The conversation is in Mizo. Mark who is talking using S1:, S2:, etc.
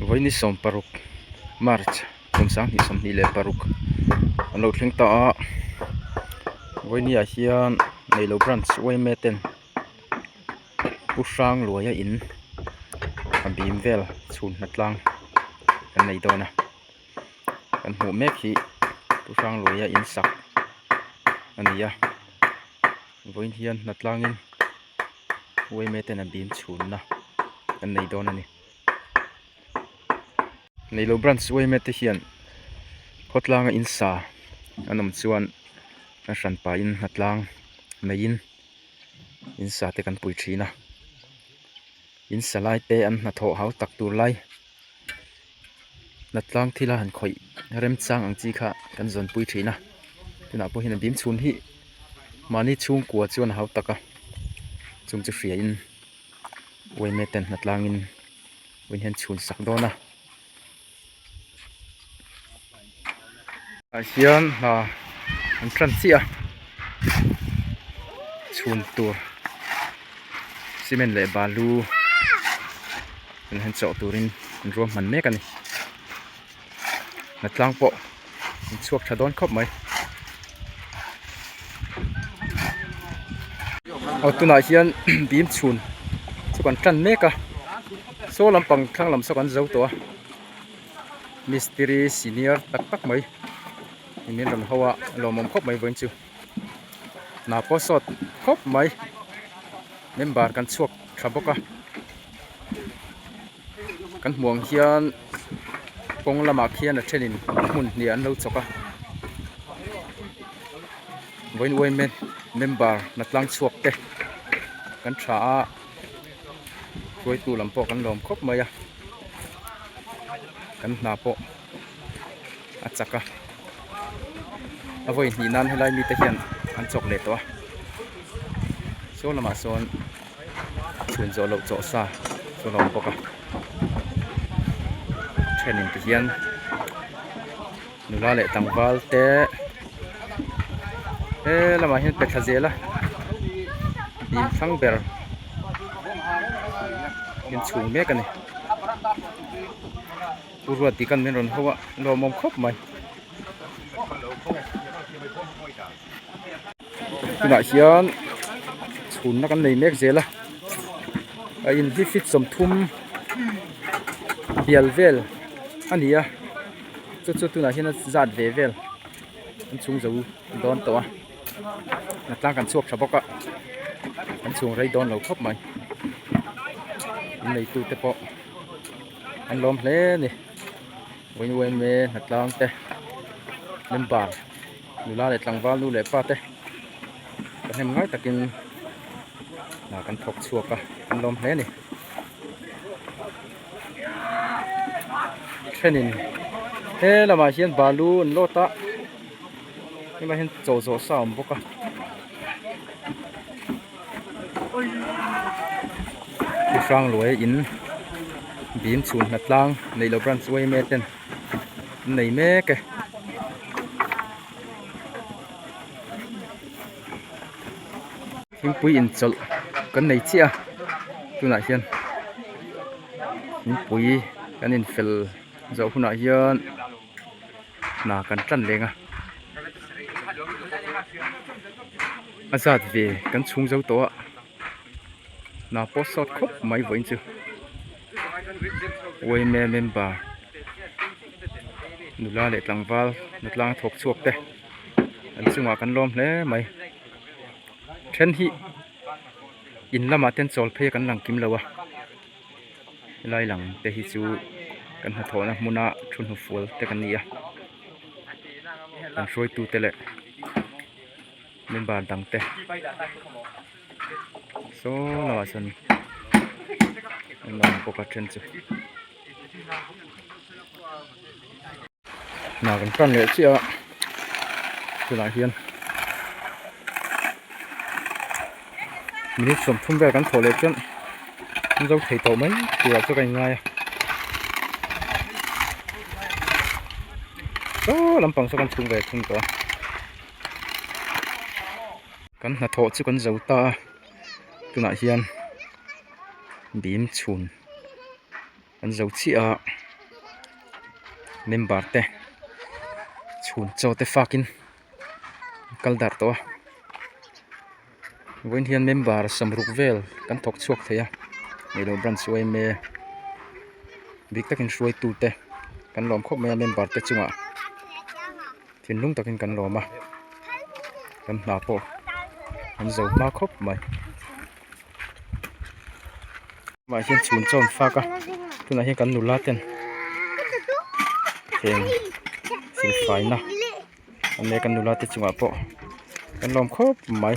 S1: Vawiin sawm paruk March kum sang hnih sawmhnih leh paruk an lo thleng ta a vawiin ah hian neilo branch yma ten pu hrangluaia in a bim vel chhun hna tlang an nei dawn a kan hmuh mek hi pu hrangluaia in sak a ni a vawiin hian hnatlangin yma ten a bim chhunna an nei dawn a ni. Neilo branch uaime te hian khawtlanga in sa an awm chuan an hran pahin hna tlang mai in in sa te kan pui thin a in sa lai te an hna thawh hau tak tur lai hna tlang thila han khawih rem chang ang chi kha kan zawn pui thin a tunah pawh hian a bim chhun hih mahni chhungkua chuan a hau tak a chung chu hria in-- Wayne ten hna tlangin Wayne hian chhun sak dawn a. Ai hian hna an hran chiah a. Chhun tur cement leh balu an han chawh turin an ruahman mek a ni. hna tlang pawh in chhuak tha dawn khawp mai aw tunah hian bim chhun chu kan tan mek a saw lampang thlang lam saw kan zo tawh a mistiri senior tak tak mai in min rawn ho a lawmawm khawp mai vawin chu. hna pawh sawt khawp mai member kan chhuak tha bawk a kan hmuh ang hian kawng lamah khian a thenin hmun hnih an lo chawk a vawi vawi men member hna tlang chhuak te kan tha a hruaitu lam pawh kan lawm khawp mai a kan hna pawh-- a chak a a vawi hnih nan helai mi te hian an chawk leh tawh a saw lamah sawn chhun zawh loh chawh sa chu a lo awm bawk a thenin te hian nula leh tlangval te he lamah hian pe tha zel a bim thlang ber inchhung mek a ni. Pu Ruat tih kan min rawn ho a, lawmawm khawp mai. Tunah hian chhunna kan nei mek zel a, a in hi fifth sawmthum bial vel a ni a, chu chu tunah hian a zat ve vel an chhung zo dawn tawh a, a tlang kan chhuak tha bawk a, an chhung rei dawn lo khawp mai, innei tute pawh. an lawm hle a ni wayne wayne hnatlang te member nula leh tlangval nu leh pa te ka hnem ngai takin ah kan thawk chhuak a an lawm hle a ni thenin he lamah hian balu an load a hemi ah hian chaw zawh sa a awm bawk a. Hrangluai in bim chhun hna tlang neilo branch uai mek ten an nei mek e. Thingpui inchawlh kan nei chiah a, tunah hian thingpui kan infel zawh hunah hian. hna kan tlan leng a a zat ve kan chhung zo tawh a hna pawh sawt khawp mai vawiin chu yma member nula leh tlangval natlang thawk chhuak te an chungah kan lawm hle mai then hi in lamah ten chawl phei a kan lang kim lo a. helai lang te hi chu kan hnathawhna hmuna thu hnufual te kan ni a kan hruaitu te leh member dang te sawi lama chuan an lo lang bawk a then chu. hna kan tlan leh chiah a tunah hian minute sawm thum vel kan thawh leh chuan mizo thei tawh mai turah chuan ka inngai a saw lampang saw kan chhung ve thung tawh a kan hnathawh chu kan zo ta a tunah hian bim chhun. an zo chiah a member te chhun cho te fak in an kal dar tawh a vawih in hian member sam ruk vel kan thawk chhuak thei a leihlawn branch yma bik tak in hruaitu te kan lawm khawp mai a member te chung ah thinlung tak in kan lawm a kan hna pawh an zo hma khawp mai. mah hian chhun chauh an fak a tunah hian kan nula ten heng fel fai na an nia kan nula te chungah pawh kan lawm khawp mai.